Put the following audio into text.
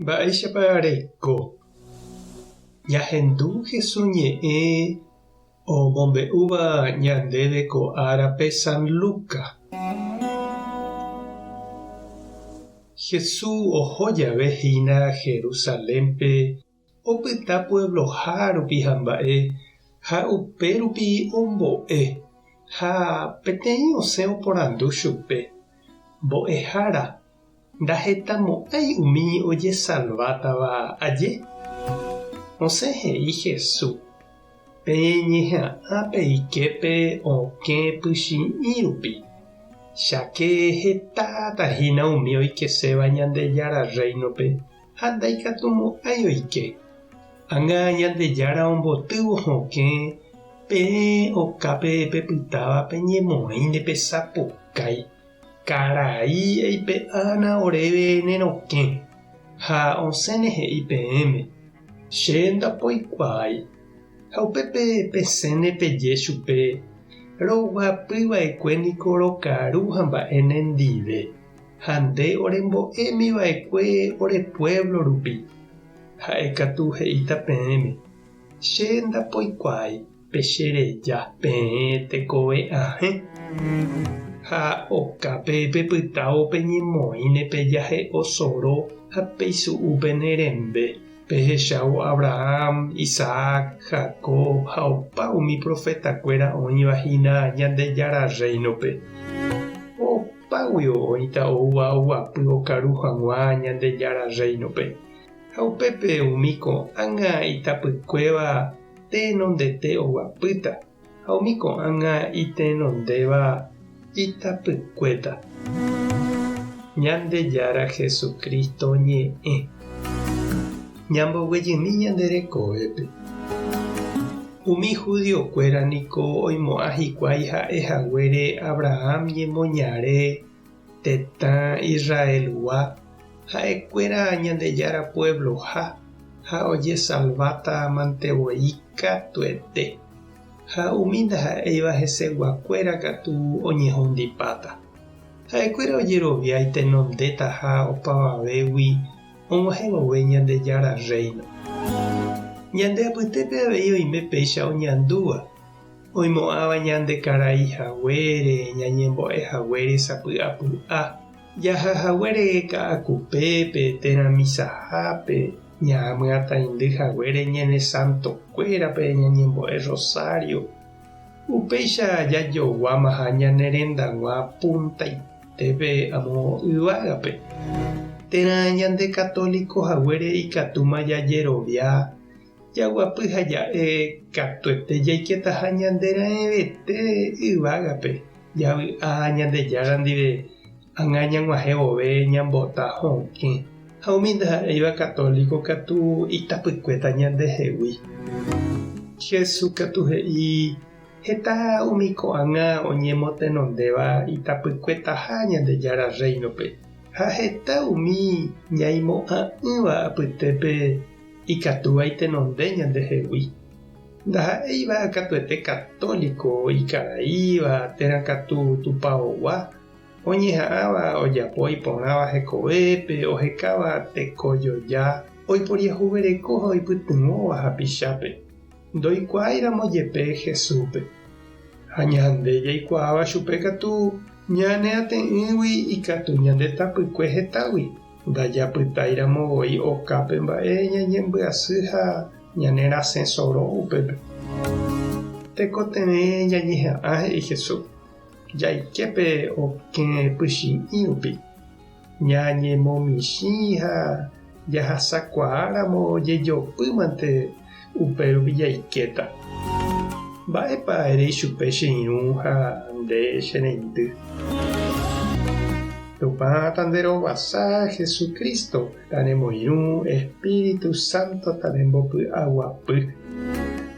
Mba'éichapa reiko jahendu Jesús ñe'ẽ omombe'úva ñandéve ko árape San Lucas? Jesús oho jave hína Jerusalénpe, Opyta puebloha rupi ha mba'e, ha upe rupi ombo'e. Ha peteĩ osẽ oporandu chupe, Mbo'ehára, ndahetamo'ãi umi ojesalvátava aje? Osẽ he'i Jesús, Peñeha'ã pe iképe okẽ pychĩ'i rupi, cháke hetáta hína umi oikeséva Ñandejára Rréinope. ha ndaikatumo'ãi oike. Ág̃a Ñandejára ombotývo hokẽ peẽ okápe pepytáva peñemoĩ nde pesapukái. Karai eipe'ána oréve ne rokẽ, ha osẽne he'i peẽme, Che ndapoikuaái. Ha upépe pesẽne peje chupe, Roguapyva'ekue niko rokaru ha mba'e nendive. ha nde orembo'émi va'ekue ore puévlo rupi. Ha'e katu he'íta peẽme, Che ndapoikuaái pe che reja peẽ tekove ahẽ, ha okápe pepytávo peñemoĩne pe jahe'o soro ha peisu'u pene rembe, pehechávo Abraham, Isaac, Jacob ha opa umi profetakuéra oĩva hína Ñandejára Rréinope. Págui oĩta oúva oguapy okaru haguã Ñandejára Rréinope, ha upépe umi ko'ág̃a itapykuéva tenondete oguapýta, ha umi ko'ág̃a itenondéva itapykuéta. Ñandejára Jesucristo ñe'ẽ. Ñamboguejymi ñande rekovépe. Umi judiokuéra niko oimo'ã hikuái ha'e haguére Abraham ñemoñare tetã Israelgua ha'ekuéra Ñandejára puebloha ha ojesalváta mante voi katuete, ha umi ndaha'éiva heseguakuéra katu oñehundipáta. Ha'ekuéra ojerovia itenondétaha opavavégui og̃uahẽ vove Ñandejára Rréino. Ñande apytépe avei oime péicha oñandúva, oimo'ãva ñande karai haguére, ñañembo'e haguére sapy'apy'a, jaha haguére ka'akupépe térã misahápe, ñaamyatãindy haguére ñane santokuérape ñañembo'e rosario, upéicha jajoguámaha ñane rendag̃ua puntaite. Peve amo yvágape, térã ñande católico haguére ikatúma jajerovia, jaguapy ha ja'e katuete jaiketaha ñande raẽvete yvágape, javy'a Ñandejára ndive ág̃a ñag̃uahẽ vove ñambota hokẽ, ha umi ndaha'éiva católico katu itapykuéta ñandehegui. Jesús katu he'i, Heta umi ko'ág̃a oñemotenondéva itapykuetaha Ñandejára Rréinope, ha heta umi ñaimo'ã'ỹva apytépe ikatúva itenonde ñandehegui. Ndaha'éiva katuete katóliko ikaraíva térã katu tupaogua, oñeha'ãva ojapo iporãva hekovépe ohekáva tekojoja oiporiahuvereko ha oipytyvõva hapichápe. Ndoikuaáiramo jepe Jesúspe, ha ñande jaikuaáva chupe katu, ñane ate'ỹgui ikatu ñande tapykue hetágui, ndajapytáiramo voi okápe mba'e ñañembyasy ha ñanerasẽ soro upépe. Tekotevẽ jañeha'ã, he'i Jesús, jaike pe okẽ pychi'ĩ rupi. Ñañemomichĩ ha jahasakuaáramo jejopýmante, upérupi jaikéta. Mba'épa ere ichupe che irũ ha nde che reindy? Tupã tanderovasa Jesucristo tanemoirũ, Espíritu Santo tanembopy'aguapy.